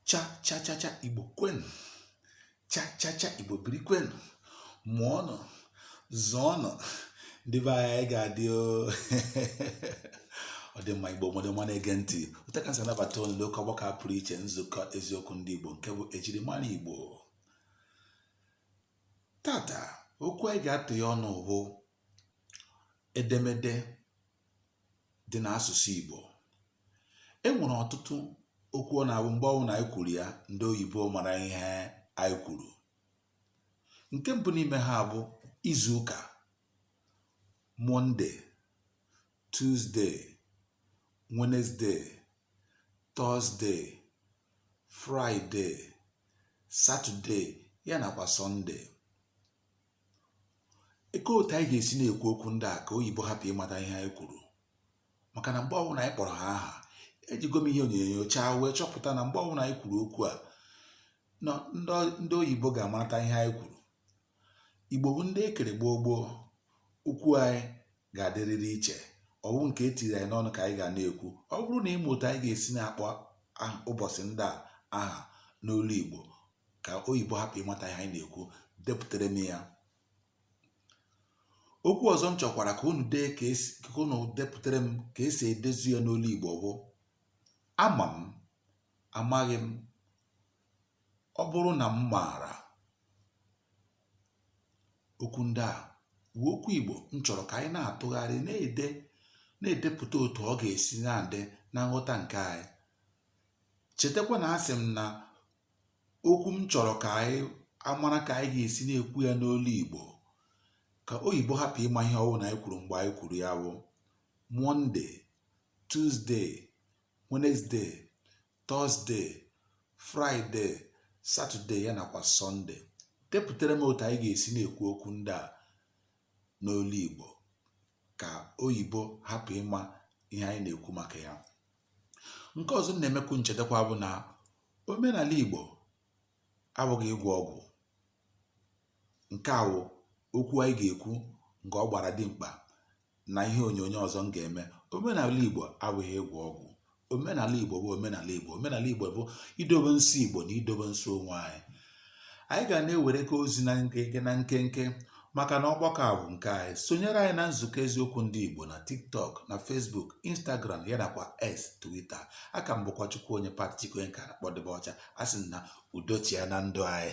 cha cha cha cha igbo kwenu cha cha cha igbo biri kwenu mụọ nụ zụọ nụ ndị be anyị ga-adị o ọ dị mma igbo mmadụ mma na-ege ntị otu a ka m si anabata unu n'oke ọgbakọ a pụrụ iche nzukọ eziokwu ndị igbo nke bụ ejirimara igbo tata okwu anyị ga-atụ ya ọnụ bụ edemede dị n'asụsụ Igbo. E nwere ọtụtụ okwu ọ na-abụ mgbe ọbụla anyị kwuru ya, ndị oyibo mara ihe anyị kwuru. Nke mbụ n'ime ha bụ izu ụka, Mọnde, Tuzde, Wenezde, Tọzde, Fraịde, Satọde ya nakwa Sọnde. kee otu anyị ga-esi na-ekwu okwu ndị a ka oyibo hapụ ịmata ihe anyị kwuru maka na mgbe ọbụla anyị kpọrọ ha aha ejigo m ihe onyo nyochaa wee chọpụta na mgbe ọbụla anyị kwuru okwu a na ndị oyibo ga-amata ihe anyị kwuru igbo bụ ndị ekere gboo gboo okwu anyị ga-adịrịrị iche ọwụ nke etiri anyị n'ọnụ ka anyị ga na-ekwu ọ bụrụ na ị ma otu anyị ga-esi na-akpọ ụbọchị ndị a aha n'olu igbo ka oyibo hapụ ịmata ihe anyị na-ekwu depụtara m ya okwu ọzọ m chọkwara ka unu dee ka unu depụtara m ka esi edezu ya n'olu igbo bụ ama m amaghị m ọ bụrụ na m maara okwu ndị a bụ okwu igbo m chọrọ ka anyị na-atụgharị na-ede na-edepụta otu ọ ga-esi na-adị na nghọta nke anyị chetakwa na asị m na okwu m chọrọ ka anyị amara ka anyị ga-esi na-ekwu ya n'olu Igbo ka oyibo hapụ ịma ihe ọwụ na anyị kwuru mgbe anyị kwuru ya bụ monde tuzde wenezde tọzde fraịde satọde ya nakwa sọnde depụtara m otu anyị ga-esi na-ekwu okwu ndị a n'olu Igbo ka oyibo hapụ ịma ihe anyị na-ekwu maka ya nke ọzọ m na-emekwu nchetakwa bụ na omenala Igbo abụghị ịgwọ ọgwụ nke a wụ okwu anyị ga-ekwu nke ọ gbara dimkpa na ihe onyonyo ọzọ m ga-eme omenala Igbo abụghị ịgwọ ọgwụ omenala Igbo bụ omenala Igbo omenala Igbo bụ idobe nsọ Igbo na idobe nsọ onwe anyị anyị ga na-ewere ka ozi na nkenke na nkenke maka na ọgbakọ a bụ nke anyị sonyere anyị na nzukọ eziokwu ndị Igbo na TikTok na Facebook Instagram ya nakwa X Twitter aka m bụkwa Chukwuonye Pat Chike onye ka a na-akpọ Dibịa Ọcha asị m na udo chịa na ndụ anyị